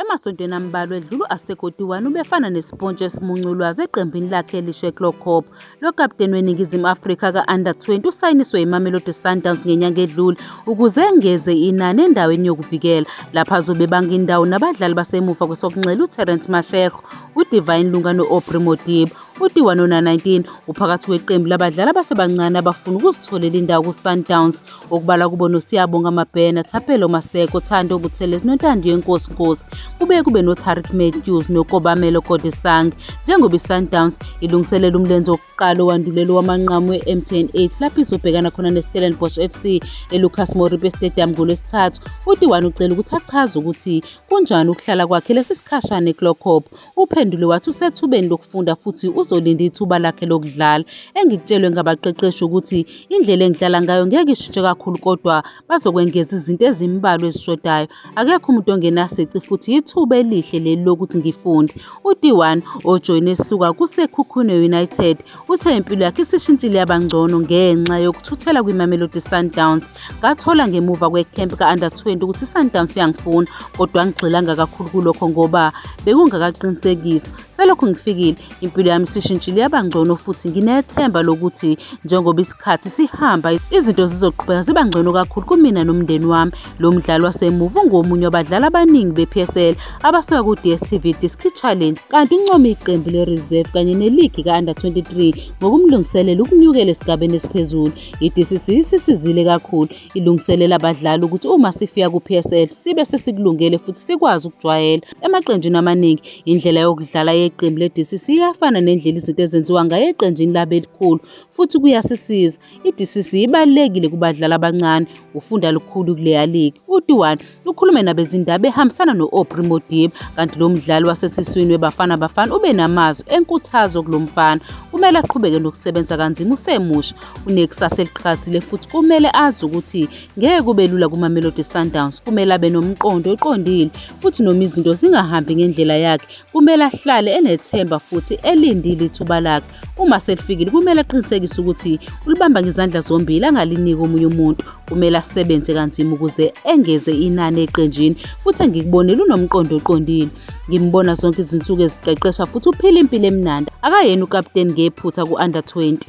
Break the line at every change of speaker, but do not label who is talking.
Emasontweni ambalwa edlule u-Asekoti-Wani ubefana nesipontshi esimunculwazi eqembini lakhe elisha eClockhope. Lo kaputeni weNingizimu Afrika ka-Under 20 usayiniswe yiMamelodi Sundowns ngenyanga edlule ukuze engeze inani endaweni yokuvikela. Lapha azobe banga indawo nabadlali basemuva kwesokunxele uTerrence Mashego, uDivine Lunga no-Aubrey Modiba. UTiwanona 19 uphakathi kweqembu labadlali abasebancane abafuna ukuzitholela indawo kuSundowns okubalwa kubo noSiyabonga Mabhena, Thapelo Maseko, Thando Buthelezi noNtando Yenkosi Nkosi. Kubuye kube noTarik Matthews noKobamelo Kodisang njengoba iSundowns ilungiselela umlenze wokuqala owandulelo wamanqamu we-MTN 8 lapho izobhekana khona neStellenbosch FC eLucas Moripe Stadium ngolwesithathu. UTiwani ucela ukuthi achaze ukuthi kunjani ukuhlala kwakhe lesi sikhashana eClockhope. Uphendule wathi usethubeni lokufunda futhi uzolinda ithuba lakhe lokudlala. Engikutshelwe ngabaqeqeshi ukuthi indlela engidlala ngayo ngeke ishintshe kakhulu kodwa bazokwengeza izinto ezimbalwa ezishodayo. Akekho umuntu ongenasici futhi yithuba elihle leli lokuthi ngifunde. UD1 ojoyine esuka kuSekhukhune United Uthe impilo yakhe isishintshile yabangcono ngenxa yokuthuthela kwiMamelodi Sundowns. Ngathola ngemuva kwekhempu ka-under 20 ukuthi iSundowns iyangifuna kodwa ngigxilanga kakhulu kulokho ngoba bekungakaqinisekiswa. Selokhu ngifikile, impilo yami isishintshile yabangcono futhi nginethemba lokuthi njengoba isikhathi sihamba izinto zizoqhubeka ziba ngcono kakhulu kumina nomndeni wami. Lo mdlali wasemuva ungomunye wabadlali abaningi be-PSL abasuka ku-DStv District Challenge kanti uncome iqembu le-reserve kanye neligi ka-under 23 ngokumlungiselela ukunyukela esigabeni esiphezulu. I-DCC sisizile kakhulu, ilungiselela abadlali ukuthi uma sifika ku-PSL sibe sesikulungele futhi sikwazi ukujwayela. Emaqenjini amaningi, indlela yokudlala yeqembu le-DCC iyafana nendlela izinto ezenziwa ngayo eqenjini labo elikhulu futhi kuyasisiza. I-DCC ibalulekile kubadlali abancane. Ufunda lukhulu kuleya ligi. UDuan ukhulume nabezindaba ehambisana no-Aubrey Modib kanti lo mdlali wasesiswini weBafana Bafana ube namazwi enkuthazo kulo mfana. Kumele aqhubeke nokusebenza kanzima usemusha. Unekusasa eliqhakazile futhi kumele azi ukuthi ngeke kube lula kuMamelodi Sundowns. Kumele abe nomqondo oqondile futhi noma izinto zingahambi ngendlela yakhe, kumele ahlale enethemba futhi elindile ithuba lakhe. Uma selifikile kumele aqinisekise ukuthi ulibamba ngezandla zombili angaliniki omunye umuntu. Kumele asebenze kanzima ukuze engeze inani eqenjini futhi engikubonile unomqondo oqondile. Ngimbona zonke izinsuku eziqeqesha futhi uphila impilo emnandi. Akayena ukapteni ngephutha ku-under 20.